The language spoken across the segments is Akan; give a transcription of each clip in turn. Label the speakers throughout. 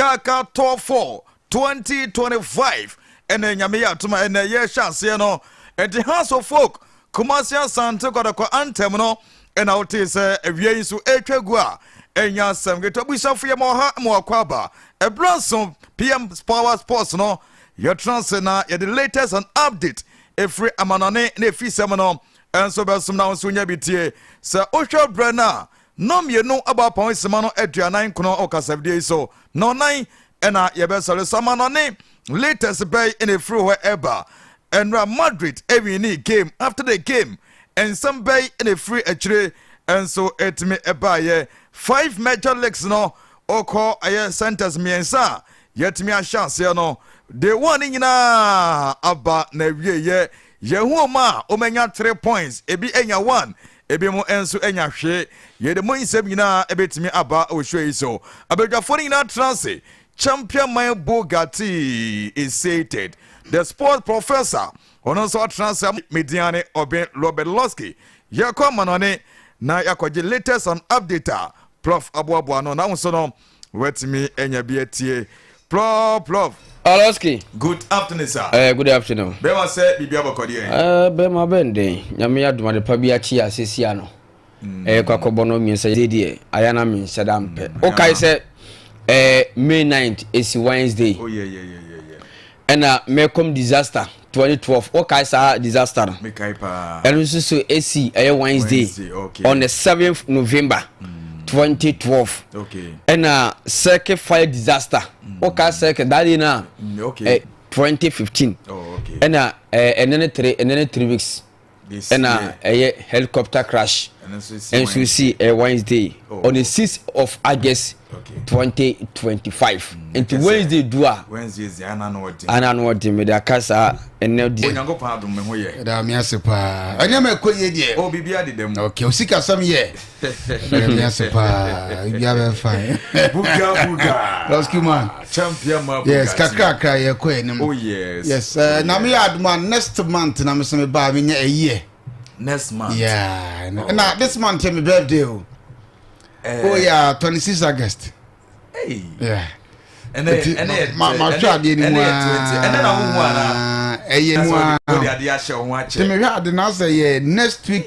Speaker 1: kaaka tɔɔ for 2025 ɛnɛ nyame yɛ atoma ɛnɛ yɛhyɛ aseɛ no ɛde house of folk kumasi asante kɔdɔkɔ antɛm no ɛna wotee sɛ awia yi nso ɛtwa gu a ɛnya asɛm ketewa busuafo yɛ ma ɔha ma wakɔ aba ɛberɛ nso pm power sports no yɛtena ase na yɛde latest and update ɛfiri amanɔne na ɛfisɛm no ɛnso bɛsom na nso nya bi tie sɛ wohwɛ berɛ no a Nna mmienu bɔ apɔn simma no aduanan nkron wɔ kasafidie yi so. Nna ɔnan na yɛbɛsɔre. Samanɔ ne Leiters bɛn na ɛfiri hɔ reba? Nnora Madrid winii game after the game. Nsɛm bɛn na ɛfiri akyire nso tumi baeɛ? Five major leagues no wokɔ ɛyɛ centres mmiɛnsa a yɛatumi ahyɛ aseɛ no, day one no nyinaa aba n'awieeɛ. Yɛnhu ɔmo a ɔmo anya three points, ebi anya one, ebinom nso anya hwee. Yɛde mo nsɛm nyinaa bɛtumi aba wɔ show yi so. Abadwafoɔ no nyinaa tena ase. Champion man Bugatti is seated. The sports professor, ɔno nso atena ase. Me din ara ne Ɔben Robert Losky. Yɛkɔ amanɔne na yɛakɔgye latest and update a Prof aboaboa ano. Na wo nso no, Wobɛtumi anya bi atie. Plɔf plɔf. Aloski.
Speaker 2: Good afternoon
Speaker 1: sir. Ɛɛ eh, good afternoon. Bɛma
Speaker 2: sɛ biribi abɔkɔ
Speaker 1: deɛ. Ɛɛ eh, bɛma bɛn
Speaker 2: den. Nyame adum ade pa bi akyi ase si ano. Mm. Ɛɛ eh, kwakɔbɔ no mmiɛnsa de deɛ ayɛ na mmiɛnsa da mpɛ. Mm, Wokae sɛ ɛɛ May 9th esi Wednesday. Oh yeah yeah yeah
Speaker 1: yeah. Ɛna
Speaker 2: mɛkɔm disaster. twenty twelve wɔ kae saa disaster no mekae paa ɛno nso so esi ɛyɛ wednesday on the seventh november mm. twenty
Speaker 1: twelve
Speaker 2: ɛna circuit fire disaster mm. wɔ kae circuit that day na mm, eh,
Speaker 1: twenty fifteen
Speaker 2: oh, ɛna
Speaker 1: eh, ɛne ne
Speaker 2: three ɛne ne three weeks. ɛna ɛyɛ helicopter crash ɛnso si ɛyɛ wednesday oh. on the sixth of august twenty twenty five mm, nti wednesday
Speaker 1: du a ana no ɔde
Speaker 2: mede aka saa ɛnɛ deɛ onyankopɔn adom me ho yɛ
Speaker 1: ɛda me ase paa
Speaker 3: ɛnneɛma ɛkɔ yie deɛ ɔ oh, biribi adeda mu ok
Speaker 1: osikasɛm yɛ
Speaker 3: Yes, pa. You have a fine. Buga buga.
Speaker 1: Rescue man.
Speaker 3: Champion man. Yes,
Speaker 1: kakra kakra ye
Speaker 3: ko enim. Oh yes. Yes.
Speaker 1: Uh, na me aduma
Speaker 3: next month na me se me ba me nya a year. Next month.
Speaker 1: Yeah. Oh, na okay.
Speaker 3: this month me birthday. Oh. Uh, oh yeah, 26 August.
Speaker 1: mahwɛ
Speaker 3: adeɛ
Speaker 1: no mu ɛyɛ mu
Speaker 3: atemehwɛ
Speaker 1: ade no asɛ yɛ
Speaker 3: next week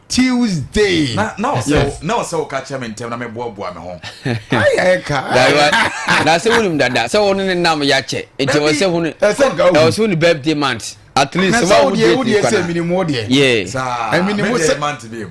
Speaker 3: tuesday
Speaker 1: na ɔsɛ woka kyɛ me ntɛm na meboaboa me ho
Speaker 2: na sɛ wonim dada sɛ wo ne ne nam yɛakyɛ nti wɔ sɛ hone ɛwɔ sɛ wone birthday month at least wodeɛ wodeɛ sɛ
Speaker 3: minimu wodeɛ minimu
Speaker 1: sɛ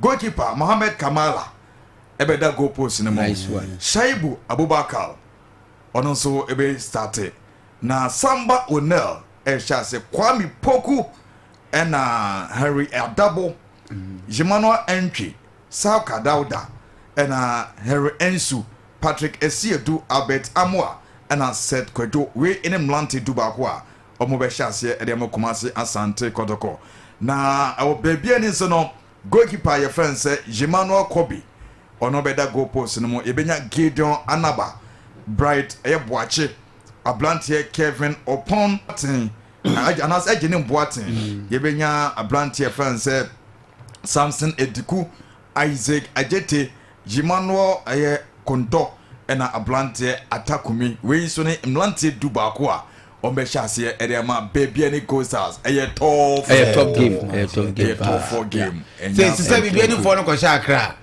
Speaker 1: Goalkeeper Mohamed Kamala bɛda goal post no mu. Shaibu Abubakar, ɔno nso bɛ start na Samba O'Neal rehyɛ ase. Kwame Poku ɛna Henry Adabo, Emmanuel Antwi, Sauka Dauda ɛna Henry Ansu, Patrick Asiedu, Albert Amoah ɛna Seth Kwadwo. Wei ne mmerante du baako a wɔbɛhyɛ aseɛ de mo Kumasi Asante Kɔtɔkɔ na wɔ baabi ani nso no goalkeeper a yɛfrɛ no sɛ Jemmanuel Kobi ɔno bɛda goal post no mu yɛbɛnya Gideon Anaba Bright ɛyɛ Boakye abranteɛ Kevin Opon Boateng anaasɛ Agyenim Boateng yɛbɛnya abranteɛ yɛfrɛ no sɛ Samson Ediku Isaac Agyete Jemmanuel ɛyɛ Kontɔ ɛna abranteɛ Atakumi wei nso ne mmeranteɛ du baako a Wɔn bɛ hyɛ aseɛ ɛde ama bɛɛbia ne coasters ɛyɛ tɔɔf. Ɛyɛ tɔɔf game ɛyɛ tɔɔf game ɛyɛ tɔɔfɔ game. Sɛ sisɛ
Speaker 3: bibi ɛni fɔ no kɔ hyɛ akra.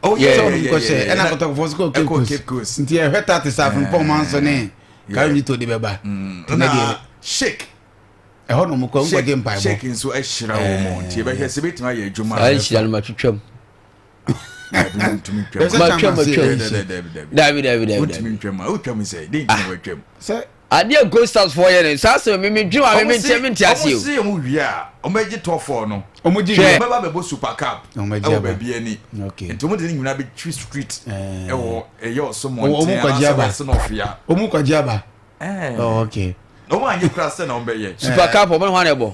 Speaker 3: Ɔwɔ sɛ sɛ ɔno kɔ hyɛ ɛna kɔtɔkɔfɔ nso kɔ Cape Coast. Nti ɛhwɛ ta te sɛ afɔnpɔn ɔmo anso ne kawinji to de bɛ ba. Ɛna
Speaker 1: shake. Ɛhɔ na
Speaker 3: ɔmo kɔ nkɔ gye mpaebɔ. Shake nso ɛhyira
Speaker 1: wɔn nti ɛbɛhwɛ sɛ ebetumi ayɛ adwuma. Saa nhyira no ma twitwa mu. adeɛ
Speaker 3: gostas
Speaker 2: foɔ yɛ no saa sɛ meme dwen wa meme nteɛ me nte aseɛ ɔmose ɔmo wie a
Speaker 1: ɔmɛgye tɔfoɔ no ɔmogye wie ɔmɛba bɛbɔ
Speaker 3: super
Speaker 1: cap ɛwɔ baabi ani nti ɔmo de ne nyina
Speaker 3: bɛtwi
Speaker 1: street ɛwɔ ɛyɛ ɔsomɔnten
Speaker 3: anaasɛ
Speaker 1: wɛse na ɔfeya ɔmo kɔgye
Speaker 3: aba ɔmo anyɛ kora sɛ
Speaker 1: na ɔmbɛyɛ super cap ɔmo ne hɔ anɛ bɔ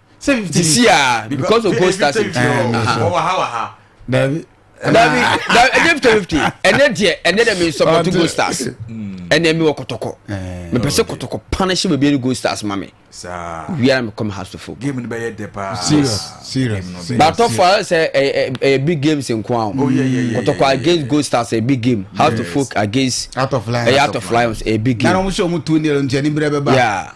Speaker 2: sɛ fifty minutes sisi aa because of gold stars nti wɔwɔ ha wɔ
Speaker 1: ha dabi
Speaker 3: dabi dabi
Speaker 2: ɛnyɛ fifty fifty ɛnɛ deɛ ɛnɛ deɛ mi n support gold stars ɛnɛ mi wɔ kɔtɔkɔ mi pɛ sɛ kɔtɔkɔ pan ɛhyɛ baabi ɛni gold stars ma mi wiara
Speaker 1: mi kɔ mi house to
Speaker 2: fo. game ni bɛ yɛ dɛ paa
Speaker 1: serious serious
Speaker 3: baatɔ fo ayɛ
Speaker 2: sɛ ɛyɛ ɛyɛ big games nko ahun kɔtɔkɔ
Speaker 1: against gold stars
Speaker 2: ɛyɛ big game house to fo against ɛyɛ out of
Speaker 3: lions ɛyɛ big game. nana wɔn sɛ wɔn
Speaker 2: tu ni ɛlɛntiɛ
Speaker 3: ni bɛrɛ bɛ ba.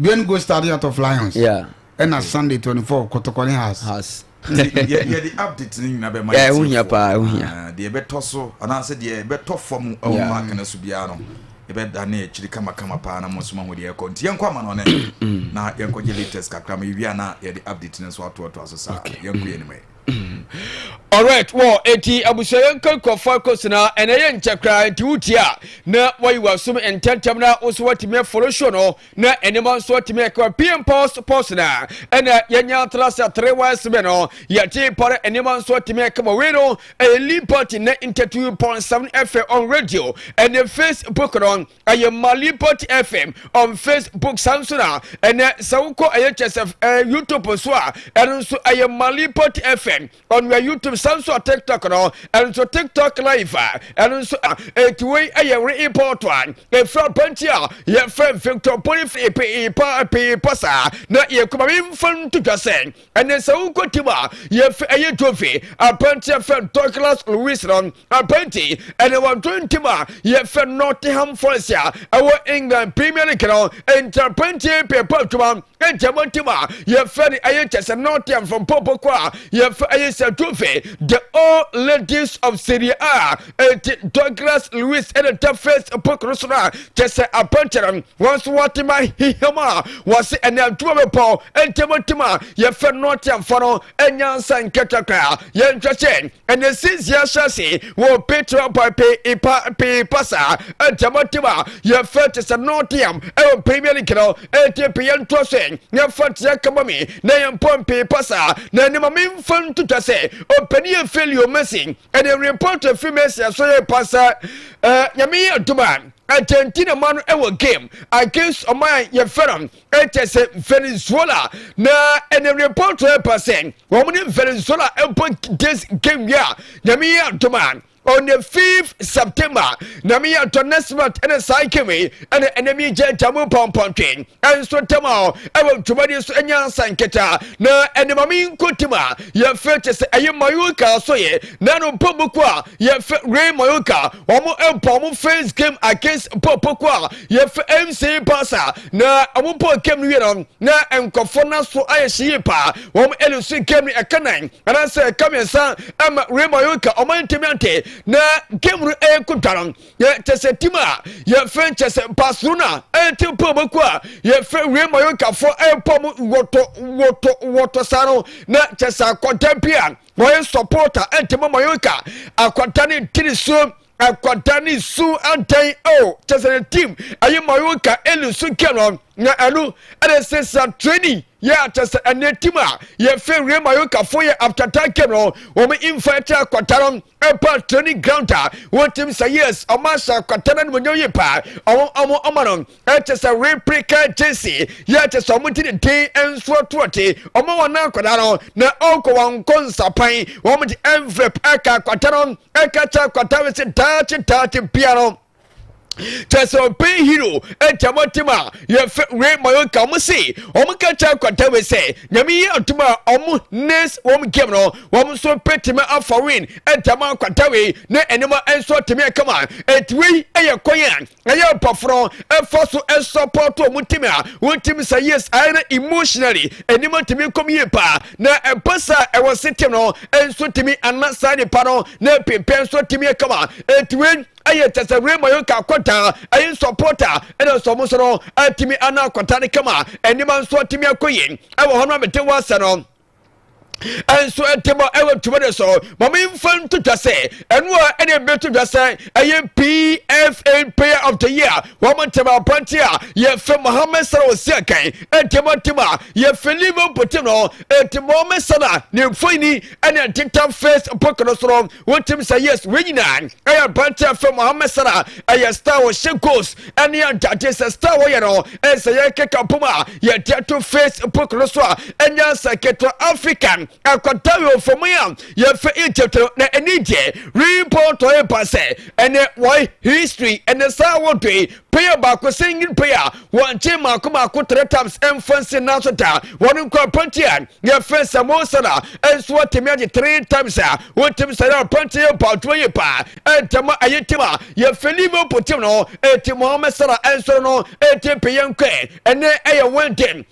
Speaker 3: Gwen go study out of Lions. Yeah. Ɛna okay.
Speaker 2: Sunday
Speaker 3: twenty four Kotoko ne Haas. Haas. Yɛ de
Speaker 1: update ne nyinaa bɛ ma yɛ ti o. Ɛho hia paa ɛho hia.
Speaker 2: Ah, deɛ ɛbɛtɔ so
Speaker 1: anaasɛ deɛ ɛbɛtɔ fam ɛwɔ mu akana so biara no ɛbɛ da ne akyiri kamakama paa na mo nso ma ho deɛ ɛkɔ nti yɛn kɔ ama no ɔne na yɛn kɔ gye latest kakra ma yɛ wia na yɛ de update ne nso ato ato aso saa yɛn kɔ yɛ anim yɛ.
Speaker 2: Alright, wɔ eti abusua yɛn kɔ kɔ fa kɔ sena ɛna yɛ nkyɛ koraa nti wotie a na wayi w'asom ntɛntɛm na wo nso watumi afolo show no na nneɛma nso atumi ɛkɔ pm post post na ɛna yɛnya atena sɛ tere wa ɛsebe no yɛte pare nneɛma nso atumi ɛkɔ ma wei no ɛyɛ lean party na ntɛtu pɔnsam ɛfɛ on radio ɛne facebook no ɛyɛ mali port fm on facebook saa nso na ɛnɛ sɛ wokɔ ɛyɛ kyɛ sɛ ɛɛ youtube nso a ɛno nso ɛyɛ mali port fm on wɛ youtube saa nso a tiktok no ɛno nso tiktok live a ɛno nso a eti wei ɛyɛ re import a efura pɛnti a yɛfrɛ victor boniface pii pa pii pa saa na yɛ kuma mi nfa nto dwa sɛ ɛnɛ sɛ wokɔ tim a yɛfɛ ɛyɛ jovi apɛnti ɛfɛ douglas louis no Apɛnti ɛna wɔn to ntim a yɛfɛ Nottingham Forest a ɛwɔ England Premier League no nti apɛnti pɛpɛ adwuma nti ɛbɔ ntim a yɛfɛ no ɛyɛ kyɛ sɛ Nottingham fam pɔpɔ kɔ a yɛfɛ ɛyɛ sɛ trophy the old ladies of Serie A nti Douglas Luiz ɛna ta face pokoro so no a kyɛ sɛ apɛnti no wɔn nso wɔte ma hiham a wɔse ɛna adwuma bɛpɔ nti ɛbɔ ntim a yɛfɛ Nottingham fɔ no nyansa nketekwa a yɛnhwɛ sɛ ɛne sisi ahyɛ ase wɔ petra pipe ipa pii pasa ɛtɛmɔtɛm a yɛfɛ te sɛ nɔteam ɛwɔ premier league no ɛti pii yɛntoa so yɛfa teɛ kama me na yɛmpɔn pii pasa na ɛnima memfa ntotwa sɛ ɔpɛni yɛ filio mɛsi ɛne report fi mɛsi ɛso yɛ pasa nyame yɛ adoma Argentina ma no ɛwɔ game against ɔman yɛfɛ no ɛkyɛ sɛ venezuela na ɛne report ɛpa sɛ wɔn ne venezuela ɛbɔ nkitɛs nkɛwie a nyame yɛ adom a on the 5th september nyame yɛ adɔ next month ɛne saa nkɛwie ɛne ɛne mi gyɛ gyamu pɔmpɔntwe ɛnso ntɛm a ɛwɔ dwumadi so ɛnyɛ ansa nketa na ɛne ma me nkotim a yɛfɛ kyɛ sɛ ɛyɛ mayoka so yɛ na no bɔ boko a yɛfɛ ray mayoka wɔn ɛbɔ wɔn first game against bɔ boko a yɛfɛ mc pasa Na ɔmo bɔɔ game no wie no na nkorɔfoɔ nan so ayɛ hye yie paa wɔn ɛlusu game no ɛka nan anaasɛ ɛka mmiɛnsa ɛma Real Mallorca ɔmo antumi ante na game no ɛɛko dwa no yɛ kyɛsɛ team a yɛfrɛ kyɛsɛ Barcelona ɛɛte pɔ ɔmo ku a yɛfrɛ Real Mallorca foɔ ɛɛpɔ ɔmo wɔtɔ wɔtɔ wɔtɔ saa no na kyɛsɛ akɔda bi a wɔyɛ supporter ɛntɛmɔ Mallorca akɔda ne tiri so akɔda ne su ntɛn o kyɛ sɛ ne team ayi ma ɔyɛ ka eli su kɛ no na ɛno ɛde sɛ sa training yɛ akyɛ sɛ ɛnɛ team a yɛfɛ real mayoka fo yɛ after that game no wɔn mfa ɛkyɛ akɔda no ɛpa training ground a wɔn team sɛ yes ɔmo ahyɛ akɔda no animonyam yɛ paa ɔmo ɔmo ɔmo no ɛkyɛ sɛ replica gyesi yɛ akyɛ sɛ ɔmo ti ne den nsoɔ toɔ te ɔmo wɔn akɔda no na ɔkɔ wɔn nkɔ nsapan wɔn de envelope ɛka akɔda no ɛka kyerɛ akwata no sɛ daakye daakye bia no kyɛ sɛ ɔbɛn hero ɛgya mo tem a yɛfɛ wei ma yɛ nka mo se ɔmo ka kyerɛ akwata wei sɛ nyame yi atom a ɔmo nes wɔm game no wɔm nso bɛtumi afa win ɛgya mo akwata wei ne ɛnema nso atumi ɛkama ɛti wei ɛyɛ kwan a ɛyɛ mpɔforɔ ɛfa so ɛsɔpɔto wɔn ntumi a wɔn ntumi sɛ yes ayɛ na emotionally anim ntumi nkɔm yie paa na ɛmpa saa ɛwɔ setem no nso ntumi ana saa nipa no na ɛpempɛn nso ntumi ɛkama ɛtiwei ɛyɛ kyɛ sɛ wei ma yɛn ka akɔtaa ɛyɛ nsɔpɔta ɛna sɛ wɔn so no ɛtumi ana akɔtaa no kama ɛnima nso ntumi akɔ yie ɛwɔ hɔ no a mete wɔ asɛ no ɛnso ɛtɛmɔ ɛwɔ tuma de so mama nfa nto dwa sɛ ɛno a ɛna ɛbɛto dwa sɛ ɛyɛ pfn player of the year wɔn ntɛm apɔnte a yɛfɛ mohammed salah osi akan ɛtɛmɔ tɛm a yɛfɛ liverpool tɛm no ɛtɛmɔ mɛsana ne mfoyini ɛna ɛteta first pokono soro wotim sɛ yes wei nyinaa ɛyɛ aberante afɛ mohammed sara ɛyɛ star wɔhyɛ goals ɛne adade sɛ star wɔyɛ no ɛsɛ yɛ keka pom a yɛde ato facebook no so a ɛnya sɛ ketewa african akɔda wɔ fam yi a yɛfɛ egypt no na ɛne deɛ report ɔyɛ ba sɛ ɛne wɔn history ɛne saa wɔdoi Pɛyɛ baako sɛ ngin pɛyɛ a wɔnkye mmaako mmaako three times mfa nsi nan so da. Wɔn nkwa panti a yɛfrɛ no sɛ Mo Salah nso atumi agye three times a wotumi sɛ yɛ panti yɛ ba adwuma yie paa. Ɛntɛm a ɛyɛ tim a yɛfrɛ Liverpool tim no eti Mohamed Salah nsɔre no eti pɛyɛ nkwa ɛnɛ ɛyɛ Wednesday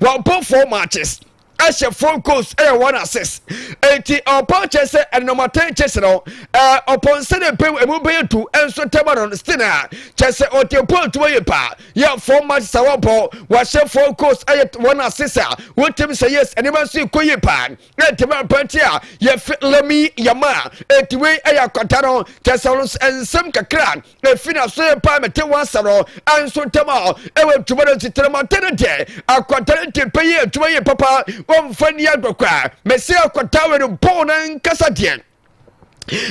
Speaker 2: wɔbɔ four matches ɛhyɛ four goals ɛyɛ one assist eti ɔpɔn kyɛ sɛ ɛnɔma ten kyɛ sɛ no ɛɛ ɔpɔn sɛ ne mpem emu bɛyɛ tu ɛnso tɛma no still a kyɛ sɛ ɔte pɔn tuma yɛ paa yɛ four matches a wɔbɔ wɔahyɛ four goals ɛyɛ one assist a wotim sɛ yes ɛnɛma nso kɔ yɛ paa ɛntɛma pɛnti a yɛfɛ lɛmi yɛma eti wei ɛyɛ akɔta no kyɛ sɛ ɔno nsɛm kakra efi na so yɛ paa mete wɔn asɛm no nso ntɛm a ɛwɔ adwuma no nsetena mu ɔte no deɛ akwadaa no te pɛ yɛ adwuma yɛ papa wɔmfa nni agorɔ koraa mese akwadaa wɔ ne bɔɔ no ankasa deɛ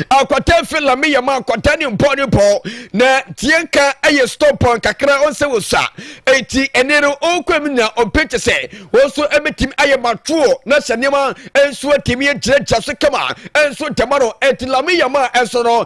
Speaker 2: akwata fi lame yɛ ma akwata ne mpɔ ne pɔ na tie nka ɛyɛ stopɔn kakra ɔnsɛ wɔ sa eti ɛne no ɔkɔ mu nya ɔpɛ kyɛ sɛ wɔn nso ɛbɛtumi ayɛ matoɔ na hyɛ nneɛma nso atumi agyinagyina so kama nso ntɛma no ɛti lame yɛ ma nso no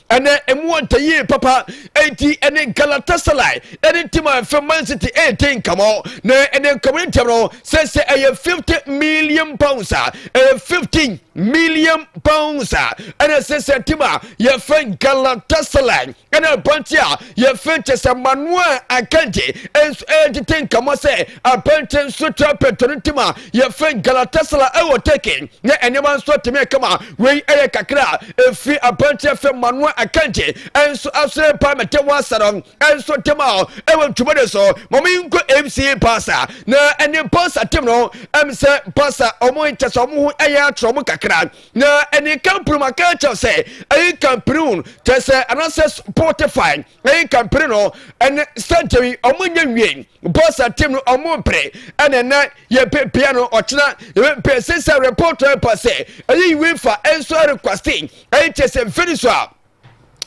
Speaker 2: ɛnɛ emu ɔtɛ yie papa eti ɛne galatasaray ɛne tim a ɛfɛ man city ɛɛte nkama na ɛne nkama ne ntɛm no sɛ sɛ ɛyɛ fifty million pounds a ɛyɛ fifty million pounds a ɛna sɛ sɛ tim a yɛfɛ galatasaray ɛna abante a yɛfɛ kyɛ sɛ manuel akanti ɛnso ɛɛtete nkama sɛ Apanten nso tra pɛtro no ntam a yɛfrɛ Galatasaray ɛwɔ Turkey na nneɛma nso atɛmɛ kama. Wei ɛyɛ kakra a ɛfiri apanten afɛ Manuel Akanji ɛnso asɔre paa mɛtɛ wasa no ɛnso ntɛm a ɛwɔ ntwomode so ma ɔmo nkɔ FC Pasa na ɛne Pasa tem no ɛm sɛ Pasa ɔmo nkyɛ sɛ ɔmo ho ɛyɛ atorɔ ɔmo kakra na ɛne Kampuru maka kyɛw sɛ ɛyɛ Kampuru tɛ sɛ anasɛ Spotify ɛyi kampere no ɛne sɛnkyɛ yi ɔmo nyɛ nwie bɔs atim no ɔmo mpere ɛna ɛnɛ yɛ pepea no ɔkyena yɛ pepea sisa report ɛpa sɛ ɛyi wifa ɛnso ɛrekwasti ɛyi kyɛ sɛ mfiri so a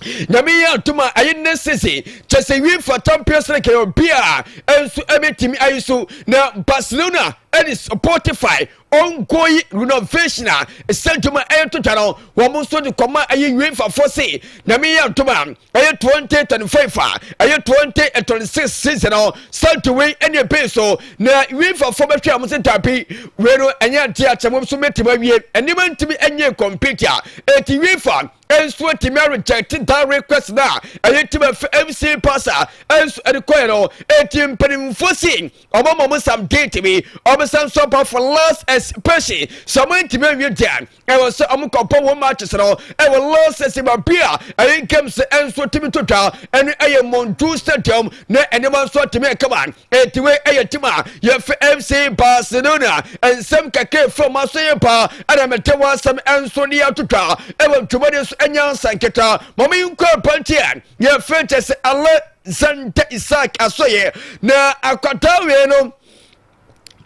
Speaker 2: nyame yɛ atom a ɛyɛ ne sese kyɛ sɛ wie fa champions league yɛ obi a ɛnso ɛbɛtumi ayi so na barcelona ɛne spotify ongoing renovation a ɛsɛ dwuma ɛyɛ tota no wɔn nso de kɔma ɛyɛ uefa fo se na mi yɛ dwuma ɛyɛ twenty twenty five a ɛyɛ twenty twenty six season no sɛnti wei ɛne ebe so na uefa fo bɛhwɛ wɔn se dabi wei no ɛnyɛ adi akyɛ wɔn nso mɛtumi awie nneɛma ntumi ɛnyɛ compete a eti uefa nso atumi arejɛte dan request na ɛyɛ tim ɛfɛ mc pasa nso ɛde kɔɛ no eti mpanimfoɔ se. Wɔn a wɔsam date bi, wɔsam nso ba for last exhibition. Sɛ wɔntumi anwie deɛ a, ɛwɔ sɛ wɔkɔbɔ wɔn matches no ɛwɔ last season baabi a ɛyɛ games nso tumi to dwa ɛne ɛyɛ Monju Stadium na nneɛma nso atumi akama. Eti wei ɛyɛ tim a yɛfɛ FC Barcelona. Nsɛm kakra efura wɔn aso yɛ paa ɛna mɛte wɔn asɛm nso de ato dwa ɛwɔ ntwomadi so ɛnyɛ ansa nketa. Mɔmi nkɔ abɛnti a yɛfɛ kyɛ sɛ alɛ. Santa Isaac asɔeɛ na akwataa wei no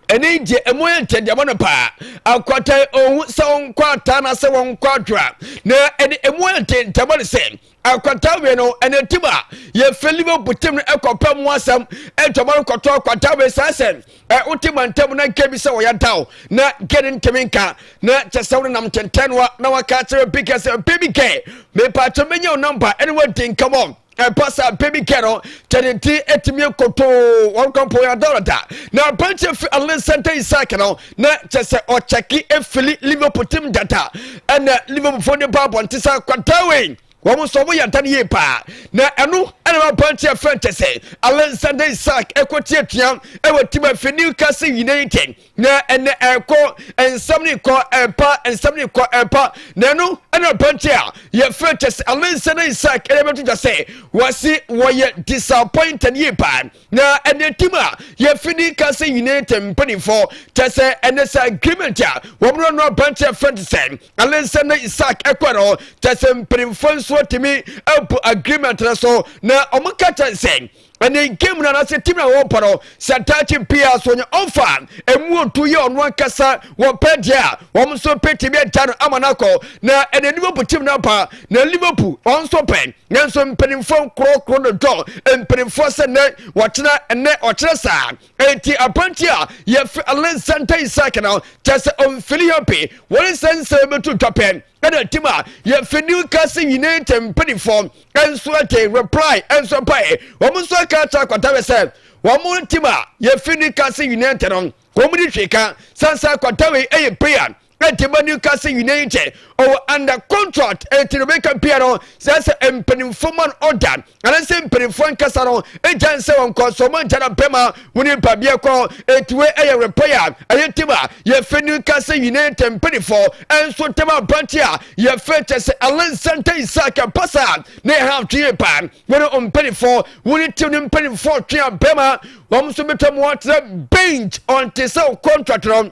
Speaker 2: ɛne gye ɛmu yɛ ntɛdeɛmɔ no paa akwata ohun sɛ ɔnkɔ ataa na sɛ wɔnkɔ adwora na ɛde ɛmu yɛ ntɛntɛmɔ no sɛ akwata wei no ɛne tim a yɛfɛ liverpool tim no ɛkɔpɛ mu asɛm ɛtɔmɔ no kɔtɔ akwata wei saa sɛ ɛwo te mantam na nka bi sɛ wɔyɛ daw na nka ne ntɛmi nka na kyɛ sɛ wɔn nam ntɛntɛn no na wɔaka akyerɛ bi kɛ sɛ bi kɛ mepa akyɛ menya wo namba ɛne wɔdi nkɛmɔ ɛba saa bɛ bi kɛ no kyɛne ti atumi nkotoo wɔn kɔmpɔn yɛ adɔrɔda na aberanteɛ fi alexander isak no na kyɛ sɛ ɔkyɛke efili liverpool tim dada ɛna liverpool fo ne ba abɔnte sa kwadaa wei wɔn nso wɔn yɛ adan yie paa na ɛno ɛna wɔn aberanteɛ fɛn kyɛ sɛ alexander isak ɛkɔ tiatia ɛwɔ tim efi newcastle united na ɛnɛ ɛkɔ nsɛm ne kɔ ɛpa nsɛm ne kɔ ɛpa na ɛno ɛna aberanteɛ a yɛfrɛ kyɛ sɛ alensa na isak ɛna ɛbɛto gya sɛ wɔsi wɔyɛ disappointed yie paa na ɛnɛ tim a yɛfi ne ka sɛ united mpanimfoɔ kyɛ sɛ ɛnɛ sɛ agreement a wɔmrɛ no aberanteɛ frɛ te sɛ alensa na isak ɛkɔ no kyɛ sɛ mpanimfoɔ nso atumi abu agreement no so na wɔn ka kyɛ sɛ ɛne game no anaasɛ team na wɔpa no sɛ daakye biara so ɔnyɛ ɔmfa ɛmu ɔtu yɛ ɔno ankasa wɔpɛ deɛ a wɔn nso pɛ tumi agya no ama no akɔ na ɛne liverpool team no aba na liverpool wɔn nso pɛ nanso mpanimfoɔ nkorɔkorɔ no dɔ mpanimfoɔ sɛ nnɛ wɔkyena ɛnɛ ɔkyerɛ saa ɛnti apanti a yɛfrɛ alexander isak no kyɛ sɛ ɔmfili happy wɔne sɛ nsɛ bɛtu dwapɛ ɛna tim a yɛfɛ new castle united mpanimfoɔ nso ate reply nso pae wɔn nso aka akyerɛ akwata wɛ sɛ wɔn tim a yɛfɛ new castle united no wɔn de hwee ka sansa akwata wɛ ɛyɛ player ɛtɛma new castle united ɔwɔ under contract ɛti no bɛka pia no sɛ sɛ mpanimfoɔ ma no ɔda anase mpanimfoɔ nkasa no gya nsɛ wɔn kɔ so wɔn nkyɛn bɛma wɔn nipa bi kɔ etuwe ɛyɛ repɔ yɛ a ɛyɛ ntɛm a yɛfɛ ne nkasa nyinaa ntɛm mpanimfoɔ ɛnso ntɛm abante a yɛfɛ kyɛ sɛ alansanta isak mpasa ne ha twe pa wɔn mpanimfoɔ wɔn ti ne mpanimfoɔ twe abɛma wɔn nso bɛtwa mu atena bench ɔnte sɛ contract no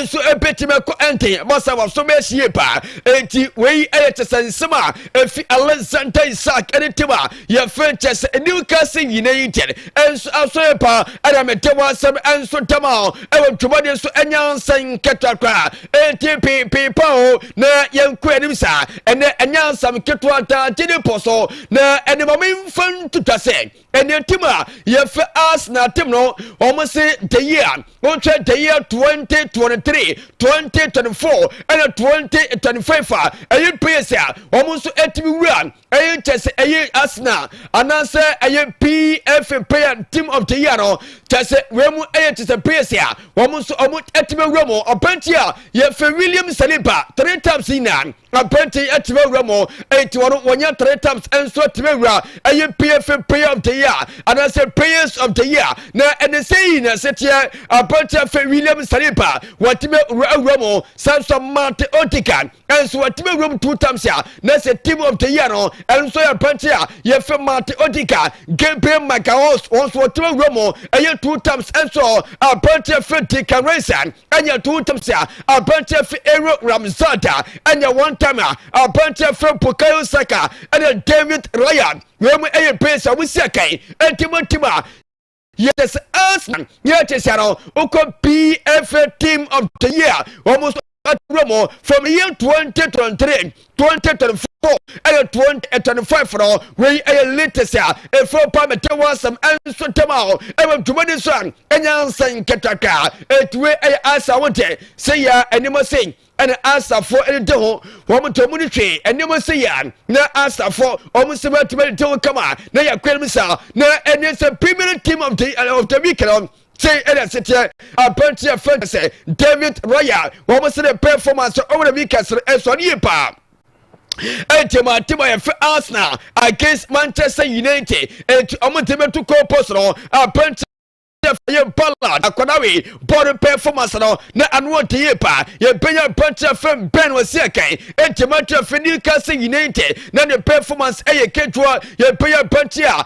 Speaker 2: nso ebetumi akɔ nten ma sɛ waso bɛsi yie paa enti wei yɛ kyɛ sɛ nsɛm a efi alexander isaac ne tim a yɛfrɛ kyɛ sɛ new castle nyina yi nkyɛn nso aso yɛ paa ɛna mede mo asɛm nso dam a ɛwɔ dwumadi nso ɛnyɛ ansɛn nketewa koraa enti piipii pa o na yɛnkɔ anim saa ɛnɛ ɛnyɛ ansɛm ketewa ntaa gye ne pɔ so na ɛne ma memfa ntuta sɛ ɛne tim a yɛfɛ arsenal tim no wɔn se the year wɔn hwɛ the year twenty twenty three twenty twenty four ɛna twenty twenty five a ɛyɛ players a wɔn nso ɛtumi wura ɛyɛ kyɛ sɛ ɛyɛ arsenal anaasɛ ɛyɛ pfa player team of the year no kyɛ sɛ wɔn mu ɛyɛ kyɛ sɛ players a wɔn nso wɔn ɛtumi wura mu ɔpɛnti a yɛfɛ william saliba three times yi na. apɛnti atumi awura mu enti wɔn wɔnyɛ three times nso atumi awura ɛyɛ pfa player of the year anaasɛ players of the year na ɛne sɛ yi na ɛseteɛ apɛnti afɛ william saliba wɔatumi awura mu san so mate otikan nso wɔatumi awura mu two times a na sɛ team of the year no ɛnso yɛ apɛnti a yɛfɛ mate otikan gabriel macaos wɔn nso wɔatumi awura mu ɛyɛ two times nso apɛnti afɛ dikan raisan ɛnyɛ ntoho ntɛm sɛ aberanteɛ fɛ Aaron Ramsdale ɛnyɛ one time a aberanteɛ fɛ Bukayo Saka ɛne David Raya wei mu ɛyɛ players a wɔsi akan ɛnti mo ntim a yɛde sɛ Arsenal yɛ te sɛ no wokɔ BFA team of the year wɔn nso aturo mu from year twenty twenty three 2024 ɛyɛ 2025 no wei ɛyɛ latest a ɛfiri pa mete ho asɛm ɛnso tɛm a ɛwɔ dwumadi so a ɛnya nsɛ nkɛtaka ɛti wei ɛyɛ asa ho tɛ sɛ yɛ anim ase ɛna asafoɔ ɛde te ho wɔn tɛ mu ne hwee anim ase yɛ na asafoɔ wɔn sɛ bɛtumi ɛde te ho kama na yɛ kwan mu saa na ɛne sɛ premier team of the, of the week no Sei na seteɛ aberanteɛ fɛ no sɛ David Royal wɔn se ne performance ɔwɔ bi kɛse ɛsɔ ne yie paa ɛnti ma ate ma yɛfɛ Arsenal against Manchester United ɛnti wɔn de bɛtu goal post no aberanteɛ yɛ ballad akwadaa wei bɔɔl performance no na ano ɔde yie paa yɛbɛnya aberanteɛ fɛ Ben wɔ se ɛkɛn ɛnti ma ate fɛ Newcastle United na ne performance ɛyɛ ketewa yɛbɛnya aberanteɛ a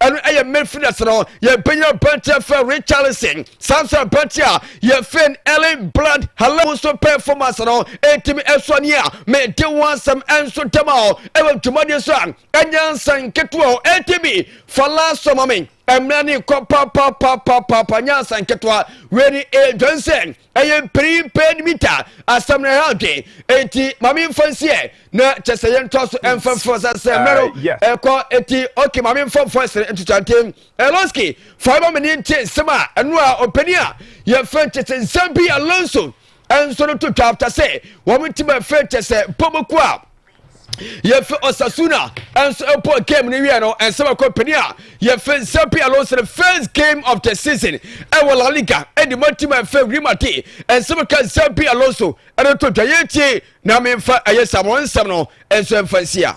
Speaker 2: ɛno ɛyɛ midfielder sɛ no yɛbɛnya aberanteɛ fɛ richarlison saa nso aberanteɛ a yɛfɛn ellen blood hala mu nso performance no ɛtumi ɛsoa ne a mede ho asɛm ɛnso dɛm a ɔ ɛwɔ dwumadeɛ so a ɛnyɛ nsa nketewa ɔ ɛtumi fa laasɔ ma me mmerɛ ne kɔ papapapapapa nyɛ nsa nketewa wei ne ɛdwan sɛ ɛyɛ mpanyin pɛɛ ne bi ta asɛm no ɛha adwen enti maame nfa nsiɛ na kyɛ sɛ yɛntoa so ɛmfa mfrɛ sa sɛ mmerɛ no ɛkɔ eti ok maame nfa mfa sere ntotantem ɛlonski fa ɛma me ne nte nsɛm a ɛno a ɔpanin a yɛfrɛ nkyɛ sɛ nsɛm bi alonso ɛnso no to twa afta sɛ wɔn ti bɛfrɛ nkyɛ sɛ mpɔmɔku a yɛfɛ osasuna nso ɛpɔ game no wiɛ no ɛnsɛ bɛkɔ pini a yɛfɛ zapi alonso no first game of the season ɛwɔ la liga ɛde ma tim a ɛfɛ real madrid ɛnsɛ bɛka zapi alonso ɛno to dwa yɛtie na memfa ɛyɛ samoa nsɛm no ɛnso ɛmfa nsia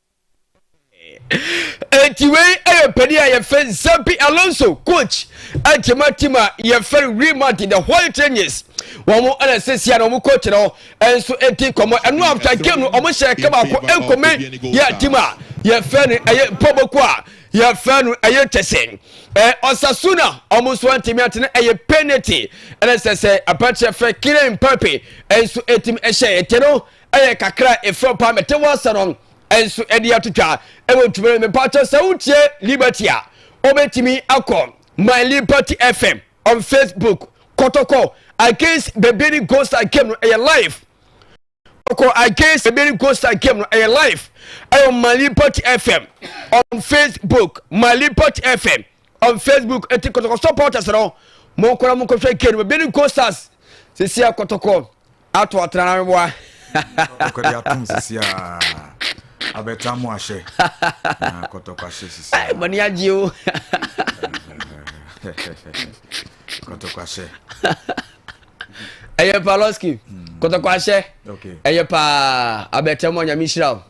Speaker 2: Enti wei yɛ panin a yɛfɛ Xabi Alonso coach ɛnti ma team a yɛfɛ Real Madrid the White Angels wɔn ɛna sɛsi a na wɔn coach no ɛnso ɛdi nkɔmɔ ɛno after game no wɔn hyɛ ɛka baako ɛnkɔmɛ yɛ team a yɛfɛ no ɛyɛ mpɔbɔko a yɛfɛ no ɛyɛ kyɛsɛ ɛɛ Osasuna wɔn nso ɛntumi atene ɛyɛ penalty ɛna sɛsɛ abɛkyɛ fɛ Kylian Mbappe ɛnso ɛtim ɛhyɛ ɛtɛ no. Ɛyɛ kakra a ɛfam paa mete wo ase no nso de atotwa ɛwɔ ntumi no mepatɔ sɛ wotie liberty a wobɛtumi akɔ my liberty fm on facebook kɔtɔkɔ against bebiri ghost and game no ɛyɛ live kɔkɔ against bebiri ghost and game no ɛyɛ live ɛwɔ my liberty fm on facebook my liberty fm on facebook ɛti kɔtɔkɔ supporters no mo nkɔla mo nkɔhwɛ game no bebiri ghost as sisi akɔtɔkɔ ato ɔtena na meboa ɔkɔde
Speaker 1: atom sisi a abɛta mo ahyɛ na kɔtɔkɔ ahyɛ sisi a mani agye o kɔtɔkɔ ahyɛ
Speaker 2: ɛyɛ paloski hmm. kɔtɔkɔ ahyɛ ɛyɛ paa abɛta mu anyame hyira o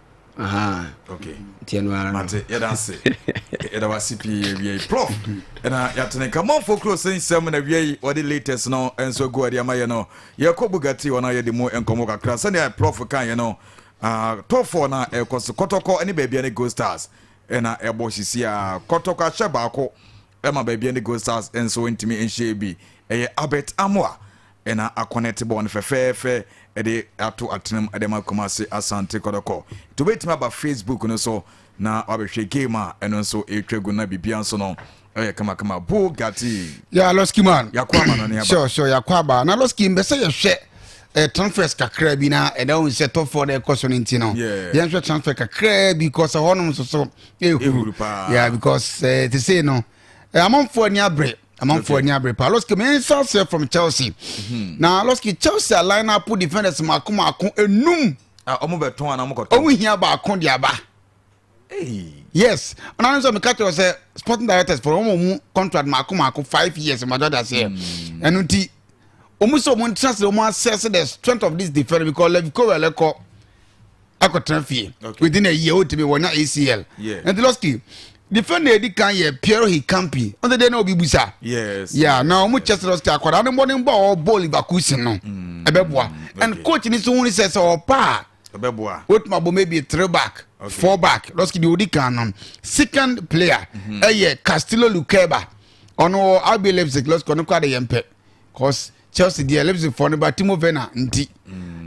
Speaker 1: yɛdawase pii awiei prof na yɛatene kamamfo kuro sɛ nsɛm na awiei wɔde latest no nso agu ade ama yɛ no yɛkɔ bugati hɔ no yɛde mu nkɔmmɔ kakra sɛnea prof kaeɛ no ah, tɔfoɔ no a ɛkɔ so kɔtɔkɔ ne baabia ne gold stars ɛna ɛbɔ sisi a kɔtɔkɔ ahyɛ baako ɛma baabia ne gold stars nso ntumi nhyɛ bi ɛyɛ albert amoa na akɔnɛte bɔɔl no fɛfɛɛfɛ de ato atenam de ama Kumasi Asante Kɔtɔkɔ. Nti wobɛtumi aba Facebook no so na wabɛhwɛ game a ɛno nso ɛretwa gu na biribiara nso no ɛyɛ kamakama. Bugatti. Yeah, Losky man.
Speaker 3: Yakɔ ama no ne aba. Sure, sure,
Speaker 1: yakɔ aba. Na Losky
Speaker 3: mbɛsɛ yɛhwɛ eh, transfers kakra bi na ɛda eh, wo sɛ top four dɛ ɛkɔ so no nti no yɛnhwɛ transfer kakra bi because ɛhɔnom nso so ɛhuru yeah because eh, te sei no eh, amanfoɔ ani abere amanfoɔ okay. ani abere paa lɔski mensa aseɛ from chelsea mm-hmm. na lɔski chelsea line up defenders mako mako enum ɔmo
Speaker 1: ah, bɛ tɔn ana ɔmo kɔ tɔn ɔmo hia baako de
Speaker 3: aba yes ɔna ne sɛ meka kyerɛ sɛ sporting directors for ɔmo mu contract mako mako five years mmadɔ da seɛ mm. ɛno nti ɔmo sɛ ɔmo ntra sɛ ɔmo asɛse the strength of this defender because levi kowel ɛkɔ akɔtena fie within a year wotumi wɔnya acl ɛnti lɔski defender edi kan yɛ pierre hikampi ɔn sɛ deɛ na obi busa yes yeah na
Speaker 1: ɔmo kyɛ sɛ
Speaker 3: lɔski akwadaa no mmɔden bɔ a ɔwɔ bɔɔl baako si no mm. ɛbɛboa and coach ni so hu sɛ sɛ ɔpa a ɛbɛboa wotumi
Speaker 1: abɔ maybe
Speaker 3: three back four back lɔski deɛ odi kan no second player mhm. ɛyɛ castillo lukeba ɔno wɔ rb leipzig lɔski ɔno kora de yɛn pɛ cause Chelsea deɛ Leipzig fɔ no ba Timo Werner nti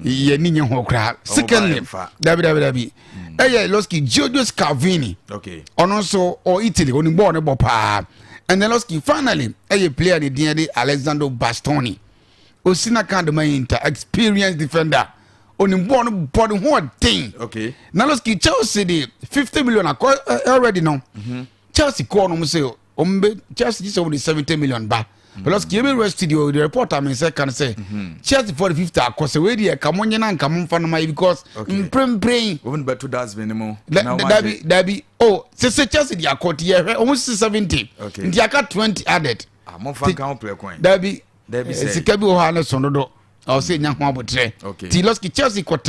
Speaker 3: yɛ ni nye ho koraa secondly dabi dabi dabi ɛyɛ Losky Giorgio Scavini ɔno nso ɔ Italy ɔni bɔɔl ne bɔ paa and then Losky finally ɛyɛ player ne deɛ de Alessandro Bastoni osi na kan dama yi nta experienced defender ɔni bɔɔl no bɔ ne ho ɔden na Losky Chelsea de fifty million akɔ already no mm-hmm. Chelsea kɔɔ nom sɛ wɔn bɛ chelsea gye sɛ wɔn de seventy million ba mm. plus kìí bɛ rest di o the report a mi nsɛ kan sɛ mm-hmm. chelsea for the fifty akɔ sɛ wei deɛ kàmú nye na nkàmú nfa no ma yi because mprempren. wɔn bɛ to dustbin
Speaker 1: mu. dabi dabi
Speaker 3: o sese chelsea di akɔ ti yɛ hwɛ wɔn sisi seventy nti aka twenty added. amofa ah, nkan pere
Speaker 1: kwan. dabi
Speaker 3: eh, sika bi wɔ hɔ a ne sɔn dodo ɔsɛ nya ho abotire ti lɔski chelsea kɔ tɛ.